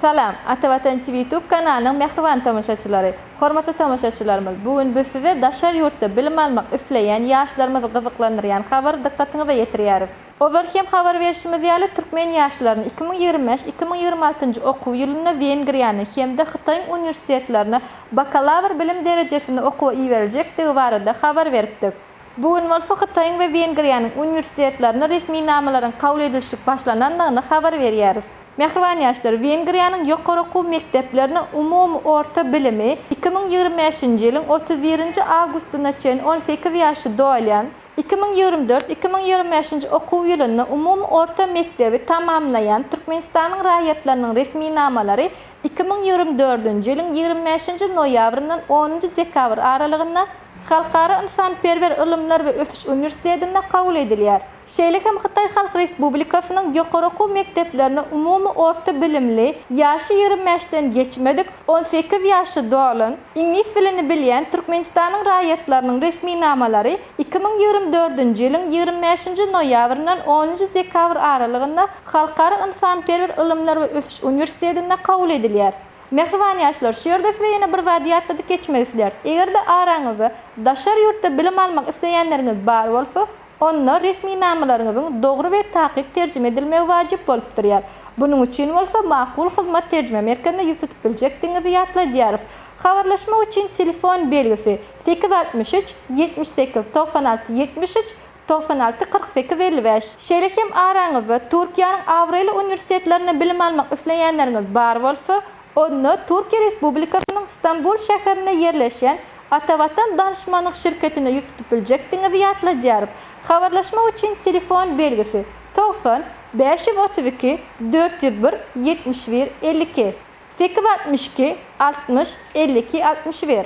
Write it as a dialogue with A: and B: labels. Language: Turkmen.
A: Salam, Atavatan TV YouTube kanalynyň mähriban tomaşaçylary! Hormatly tomaşaçylarymyz, bu gün biz size daşary ýurtda bilim almak isleýän ýaşlarymyzy gyzyklandyrýan habary dykgatyňyza ýetirýäris. Ozal hem habar berşimiz ýaly, türkmen ýaşlaryny iki müň ýigrimi bäş, iki müň ýigrimi altynjy okuw ýylynda Wengriýanyň hem-de Hytaýyň uniwersitetlerine bakalawr bilim derejesinde okuwa iberiljekdigi barada habar beripdik. Bu gün bolsa Hytaýyň we Wengriýanyň uniwersitetlerine resminamalaryň kabul edilşlik başlanandygyny habar berýäris. Mähriban ýaşlar, Wengriýanyň ýokary okuw mekdeplerine umumy orta bilimi iki müň ýigrimi bäşinji ýylyň otuz birinji awgustyna çenli on sekiz ýaşy dolýan, iki müň ýigrimi dört, iki müň ýigrimi bäşinji okuw ýylynda umumy orta mekdebi tamamlaýan Türkmenistanyň raýatlarynyň resminamalary iki müň ýigrimi dördünji ýylyň ýigrimi bäşinji noýabryndan onunjy dekabr aralygynda Halkara ynsanperwer ylymlar we ösüş uniwersitetinde kabul edilýär. Şeýle hem Hytaý Halk Respublikasynyň ýokary okuw mekdeplerine umumy orta bilimli, ýaşy ýigrimi bäşden geçmedik, on sekiz ýaşy dolan, iňlis dilini bilýän Türkmenistanyň raýatlarynyň resminamalary iki müň ýigrimi dördünji ýylyň ýigrimi bäşinji noýabryndan onunjy dekabr aralygynda Halkara ynsanperwer ylymlar we ösüş uniwersitetinde kabul edilýär. Mähriban ýaşlar, şu ýerde size ýene bir zady ýatladyp geçmek isleris. Eger-de araňyzda daşary ýurtda bilim almak isleýänleriňiz bar bolsa, onda resminamalaryňyzyň dogry we takyk terjime edilmegi wajyp bolup durýar. Bunuň üçin bolsa Makul Hyzmat terjime merkezine ýüz tutup biljekdigiňizi ýatladýarys. Habarlaşmak üçin telefon belgisi, sekiz altmyş üç, ýetmiş sekiz, togsan alty, ýetmiş üç, Togsan alty, kyrk sekiz, elli bäş. Şeýle hem araňyzda Türkiýäniň abraýly uniwersitetlerinde bilim almak isleýänleriňiz bar bolsa, onda Türkiýe Respublikasynyň Stambul şäherinde ýerleşýän Atavatan danyşmanlyk şirketinde ýüz tutup biljekdigiňizi ýatladýarys. Habarlaşmak üçin telefon belgisi, togsan, bäş ýüz otuz iki, dört ýüz bir, ýetmiş bir, elli iki, sekiz, altmyş iki, altmyş, elli iki, altmyş bir.